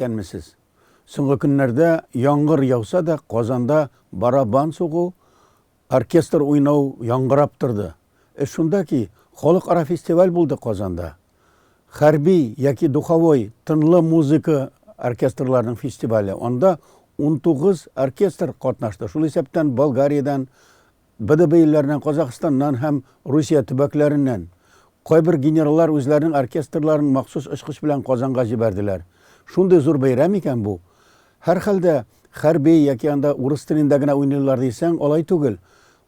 Исәнмесез. Соңгы көннәрдә яңгыр яуса да, Казанда барабан сугу Оркестр уйнау яңгырап торды. Эш шунда ки, халыкара фестиваль булды Казанда. Хәрби яки духовой, тынлы музыка оркестрларының фестивале. Анда унтугыз оркестр катнашты, шул исәптән Болгариядән, БДБ илләреннән, Казахстаннан һәм Русия төбәкләреннән. Кайбер генераллар үзләренең оркестрларын махсус очкыч белән Казанга җибәрделәр. Шундый зур бәйрәм икән бу! Һәрхәлдә, хәрби яки анда урыс телендә генә уйныйлар дисәң, алай түгел.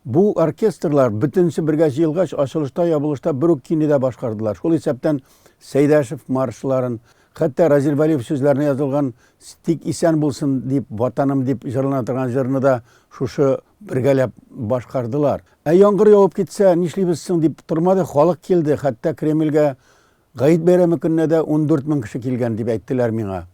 Бу оркестрлар бөтенесе бергә җыелгач, ачылышта-ябылышта бер үк кинедә башкардылар. Шул исәптән Сәйдәшев маршларын, хәтта Разил Вәлиев сүзләренә язылган Тик исән булсын дип, Ватаным дип җырлана торган җырны да шушы бергәләп башкардылар. Ә яңгыр явып китсә, нишлибез соң дип тормады, халык килде, хәтта Кремльгә Гает бәйрәме көненә дә ундүрт мең кеше килгән, дип әйттеләр миңа.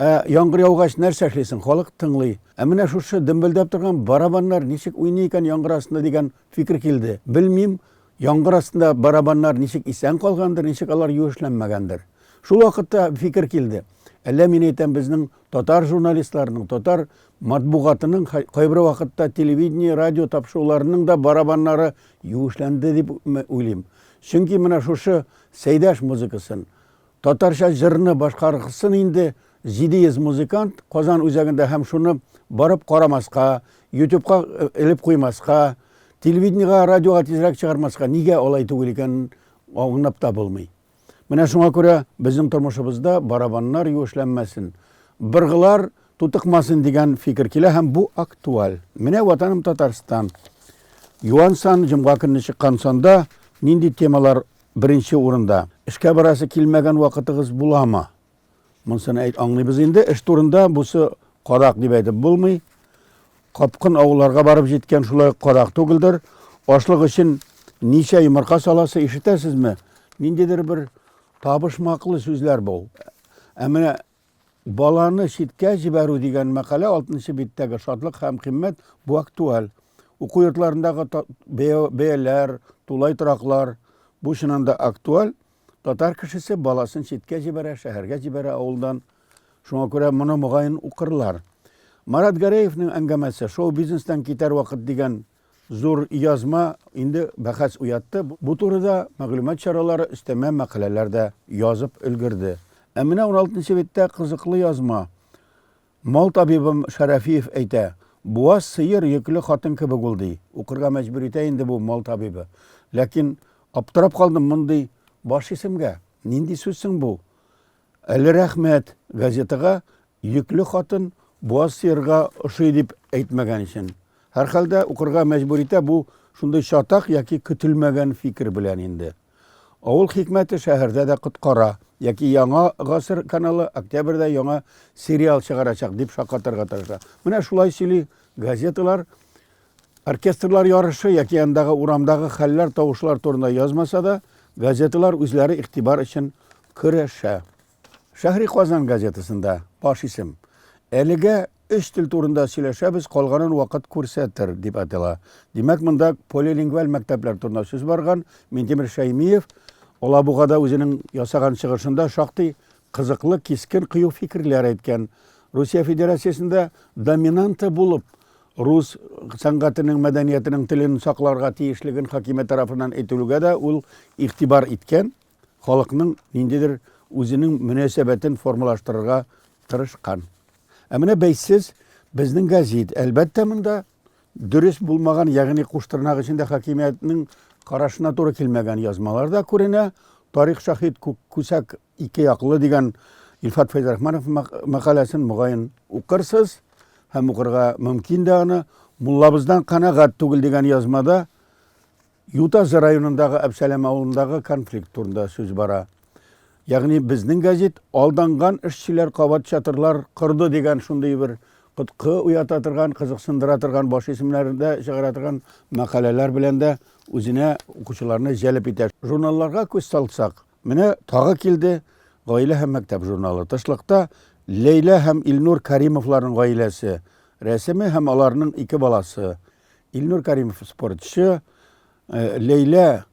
Ә яңгыр яугач, нәрсә эшлисең, халык тыңлый. Ә менә шушы дөмбелдәп торган барабаннар ничек уйный икән яңгыр астында дигән фикер килде. Белмим, яңгыр астында барабаннар ничек исән калгандыр, ничек алар юешләнмәгәндер. Шул вакытта фикер килде, әллә, мин әйтәм, безнең татар журналистларының, татар матбугатының кайбер вакытта телевидение, радио тапшыруларының да барабаннары юешләнде дип уйлыйм. Чөнки менә шушы Сәйдәш музыкасын, татарча җырны башкаргсын инде 700 музыкант Казан үзәгендә һәм шуны барып карамаска, ютюбка элеп куймаска, телевидениегә, радиога тизрәк чыгармаска нигә алай түгел икәнен аңлап та булмый. Менә шуңа күрә безнең тормышыбызда барабаннар юешләнмәсен, быргылар тутыкмасын дигән фикер килә һәм бу актуаль. Менә Ватаным Татарстан. Юан сан, җомга көнне чыккан санда нинди темалар беренче урында? Эшкә барасы килмәгән вакытыгыз буламы? Монсыны әйт аңлыйбыз инде. Эш турында бусы карак дип әйтеп булмый. Капкын авылларга барып җиткән шулай карак түгелдер. Ашлык өчен ничә йомырка саласы ишетәсезме? Ниндидер бер табышмаклы сүзләр бу. Ә менә Баланы читкә җибәрү дигән мәкалә алтынчы биттәге Шатлык һәм кыйммәт бу актуаль. Уку йортларындагы бәяләр, тулай тораклар, бу чыннан да актуаль. Татар кешесе баласын читкә җибәрә, шәһәргә җибәрә авылдан. Шуңа күрә моны, мөгаен, укырлар. Марат Гәрәевның әңгәмәсе Шоу-бизнестан китәр вакыт дигән Зур язма инде бәхәс уятты. Бу турыда мәгълүмат чаралары өстәмә мәкаләләр дә язып өлгерде. Ә менә уналтынчы биттә кызыклы язма. Мал табибым Шәрәфиев әйтә, Буаз сыер йөкле хатын кебек ул, ди. Укырга мәҗбүр итә инде бу мал табибы. Ләкин аптырап калдым мондый баш исемгә. Нинди сүз соң бу? Әле рәхмәт, газетага йөкле хатын буаз сыерга ошый дип әйтмәгән өчен. Һәрхәлдә, укырга мәҗбүр итә бу шундый чатак яки көтелмәгән фикер белән инде. Авыл хикмәте шәһәрдә дә коткара, яки Яңа гасыр каналы октябрьдә яңа сериал чыгарачак, дип шаккатырырга тырыша. Менә шулай сөйли газеталар. Оркестрлар ярышы яки андагы урамдагы хәлләр, тавышлар турында язмаса да, газеталар үзләре игътибар өчен көрәшә. Шәһри Казан газетасында баш исем Әлегә өч тел турында сөйләшәбез, калганын вакыт күрсәтер, дип атала. Димәк, монда полилингваль мәктәпләр турында сүз барган. Минтимер Шәймиев Алабугада үзенең ясаган чыгышында шактый кызыклы, кискен, кыю фикерләр әйткән. Русия Федерациясендә доминанта булып, Рус сәнгатенең, мәдәниятенең, телен сакларга тиешлеген хакимият тарафыннан әйтелүгә дә ул игътибар иткән, халыкның ниндидер үзенең мөнәсәбәтен формалаштырырга тырышкан. Ә менә бәйсез безнең гәзит. Әлбәттә, монда дөрес булмаган, ягъни куштырнак эчендә хакимиятнең карашына туры килмәгән язмалар да күренә. Тарих шаһит, күк күсәк Ике яклы дигән Илфат Фәйзрахманов мәкаләсен, мөгаен, укырсыз һәм укырга мөмкин дә аны. Муллабыздан канәгать түгел дигән язмада Ютазы районындагы Әбсәләм авылындагы конфликт турында сүз бара. Ягъни безнең газет алданган эшчеләр кабат чатырлар корды дигән шундый бер коткы уята торган, кызыксындыра торган, баш исемнәрендә чыгара торган мәкаләләр белән дә үзенә укучыларны җәлеп итә. Журналларга күз салсак, Менә тагы килде Гаилә һәм мәктәп журналы. Тышлыкта Ләйлә һәм Илнур Каримовларның гаиләсе рәсеме һәм аларның ике баласы. Илнур Каримов спортчы, э, Ләйлә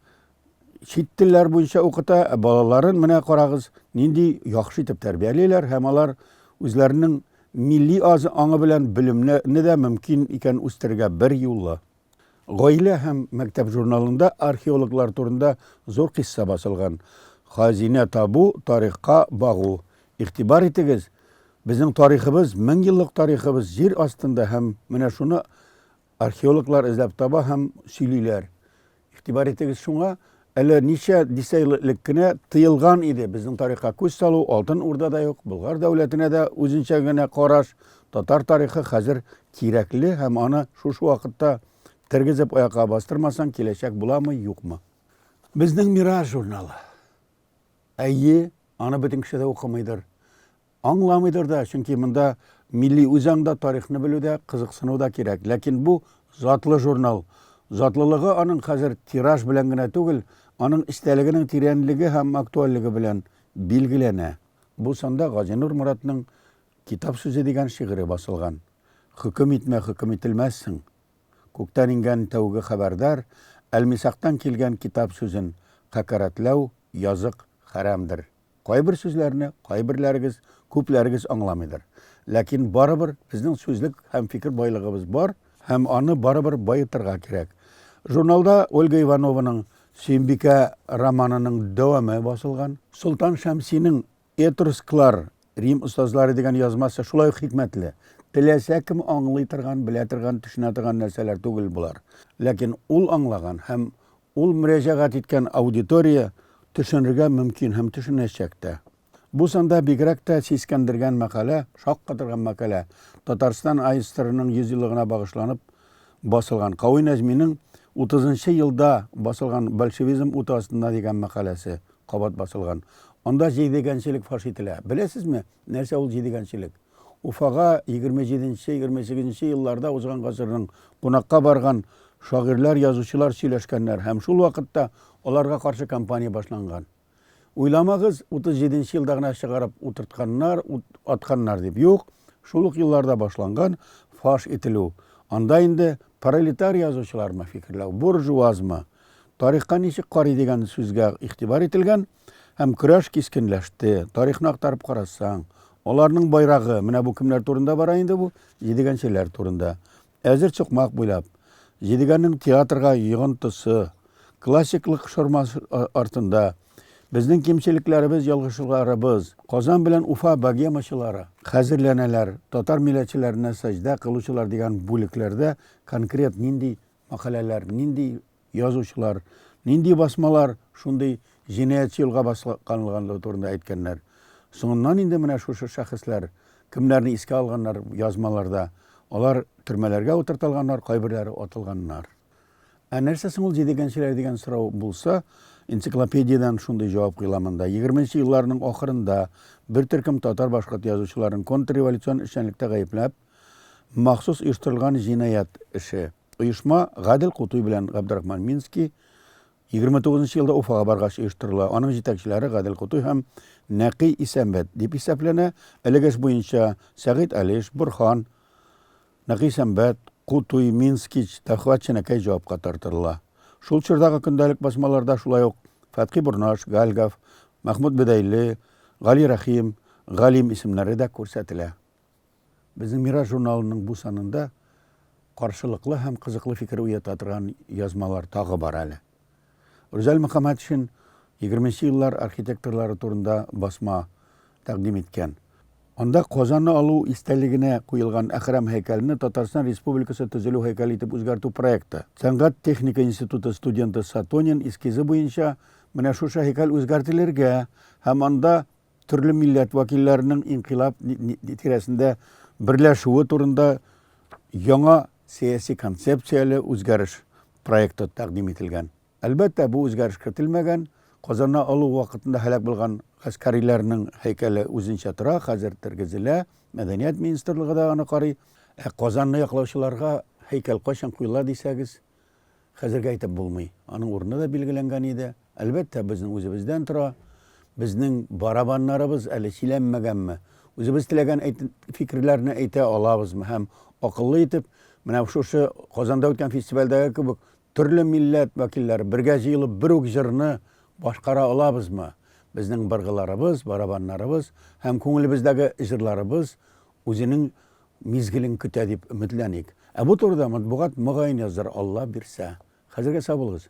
чит телләр буенча укыта, ә балаларын менә карагыз, нинди яхшы итеп тәрбиялиләр һәм алар үзләренең милли азы аңы белән белемне дә мөмкин икән үстерергә бер юлы. Гаилә һәм мәктәп журналында археологлар турында зур кыйсса басылган. Хазинә табу, тарихка багу. Игътибар итегез, безнең тарихыбыз, меңьеллык тарихыбыз җир астында һәм менә шуны археологлар эзләп таба һәм сөйлиләр. Игътибар итегез шуңа, Әле ничә дисәел элек кенә тыелган иде безнең тарихка күз салу, Алтын Урда да юк, Болгар дәүләтенә дә үзенчә генә караш, татар тарихы хәзер кирәкле һәм аны шушы вакытта тергезеп аякка бастырмасаң, киләчәк буламы, юкмы? Безнең Мираж журналы. Әйе, аны бөтен кеше дә укымыйдыр. Аңламыйдыр да, чөнки монда милли үзаңда тарихны белү дә, кызыксыну да кирәк. Ләкин бу, затлы журнал. Затлылыгы аның хәзер тираж белән генә түгел, аның эчтәлегенең тирәнлеге һәм актуальлеге белән билгеләнә. Бу санда Газинур Моратның Китап сүзе дигән шигыре басылган. Хөкем итмә, хөкем ителмәссең. Күктән иңгән тәүге хәбәрдар, Әлмисактан килгән китап сүзен хәкәрәтләү, язык, хәрәмдер. Кайбер сүзләрне кайберләрегез, күпләрегез аңламыйдыр. Ләкин барыбер безнең сүзлек һәм фикер байлыгыбыз бар, һәм аны барыбер баетырга кирәк. Журналда Ольга Иванованың Сөембикә романының дәвамы басылган. Солтан Шәмсинең Этрусклар, Рим остазлары дигән язмасы шулай ук хикмәтле. Теләсә кем аңлый торган, белә торган, төшенә торган нәрсәләр түгел болар. Ләкин ул аңлаган һәм Ул мөрәҗәгать иткән аудитория төшенергә мөмкин һәм төшенәчәк тә. Бу санда бигрәк тә сискәндергән мәкалә, шаккатырган мәкалә, Татарстан АССРның 100 еллыгына багышланып басылган Кави Нәҗминең Утызынчы елда басылган Большевизм уты астында дигән мәкаләсе кабат басылган. Анда җидегәнчелек фаш ителә. Беләсезме, нәрсә ул җидегәнчелек? Уфага егерме җиденче, егерме сигезенче елларда узган гасырның кунакка барган шагыйрьләр, язучылар сөйләшкәннәр һәм шул вакытта аларга каршы кампания башланган. Уйламагыз, утыз җиденче елда гына чыгарып утыртканнар, ут атканнар дип. Юк, шул ук елларда башланган фаш ителү. Анда инде пролетар язучылармы фикерләү, буржуазмы, тарихка ничек карый дигән сүзгә игътибар ителгән. Һәм көрәш кискенләште. Тарихны актарып карасаң, аларның байрагы, менә бу кемнәр турында бара инде бу, җидегәнчеләр турында. Әзер сукмак буйлап, җидегәннең театрга йогынтысы, классиклык шормасы артында, безнең кимчелекләребез, ялгышларыбыз, Казан белән Уфа богемачылары, хәзерләнәләр, татар милләтчеләренә сәҗдә кылучылар дигән бүлекләрдә конкрет нинди мәкаләләр, нинди язучылар, нинди басмалар шундый җинаятьче юлга басканлыгы турында әйткәннәр. Соңыннан инде менә шушы шәхесләр кемнәрне искә алганнар язмаларда, алар төрмәләргә утыртылганнар, кайберләре атылганнар. Ә нәрсә соң ул җидегәнчеләр дигән сорау булса, энциклопедиядән шундый җавап коела монда. Егерменче елларның ахырында бер төркем татар-башкорт язучыларын контрреволюцион эшчәнлектә гаепләп, махсус оештырылган җинаять эше, Оешма Гадел Кутуй белән Габдрахман Минский 29 нчы елда Уфага баргач оештырыла. Аның җитәкчеләре Гадел Кутуй һәм Нәкый Исәнбәт дип исәпләнә. Элек эш буенча Сәгыйть Алиш, Борһан, Нәкый Исәнбәт, Кутуй, Минскич, Тәхват Ченәкәй җавапка тартырыла. Шул чордагы көндәлек басмаларда шулай ук Фәтхи Борнаш, Гальгав, Мәхмүт Бедәйле, Гали Рәхим, Галим исемнәре дә күрсәтелә. Безнең Мирас журналының бу санында каршылыклы һәм кызыклы фикер уята торган язмалар тагы бар әле. Рүзәл Мөхәммәтшин 20 нче еллар архитекторлары турында басма тәкъдим иткән. Анда Казанны алу истәлегенә куелган Әхрам һәйкәлене Татарстан Республикасы төзелү һәйкәле итеп үзгәртү проекты. Сәнгать-техника институты студенты Сатонин эскизы буенча менә шушы һәйкәл үзгәртелергә һәм анда Төрле милләт вәкилләренең инкыйлаб тирәсендә берләшүе турында яңа сәяси концепцияле үзгәреш проекты тәкъдим ителгән. Әлбәттә, бу үзгәреш кертелмәгән. Казанна алу вакытында һәлак булган гаскәриләрнең һәйкәле үзенчә тора, хәзер тергезелә. Мәдәният министрлыгы да аны карый. Ә Казанны яклаучыларга һәйкәл кайчан куела дисәгез, Хәзергә әйтеп булмый. Аның урыны да билгеләнгән иде. Әлбәттә, безнең үзебездән тора. Безнең барабаннарыбыз әле чиләнмәгәнме? Үзебез теләгән фикерләрне әйтә алабызмы? Һәм акыллы итеп, менә шушы Казанда үткән фестивальдәге кебек, төрле милләт вәкилләре бергә җыелып, бер үк җырны башкара алабызмы? Безнең быргыларыбыз, барабаннарыбыз һәм күңелебездәге җырларыбыз үзенең мизгелен көтә дип өметләник. Ә бу турыда матбугат мөгаен яздыр, Алла бирсә. Хәзергә сау булыгыз.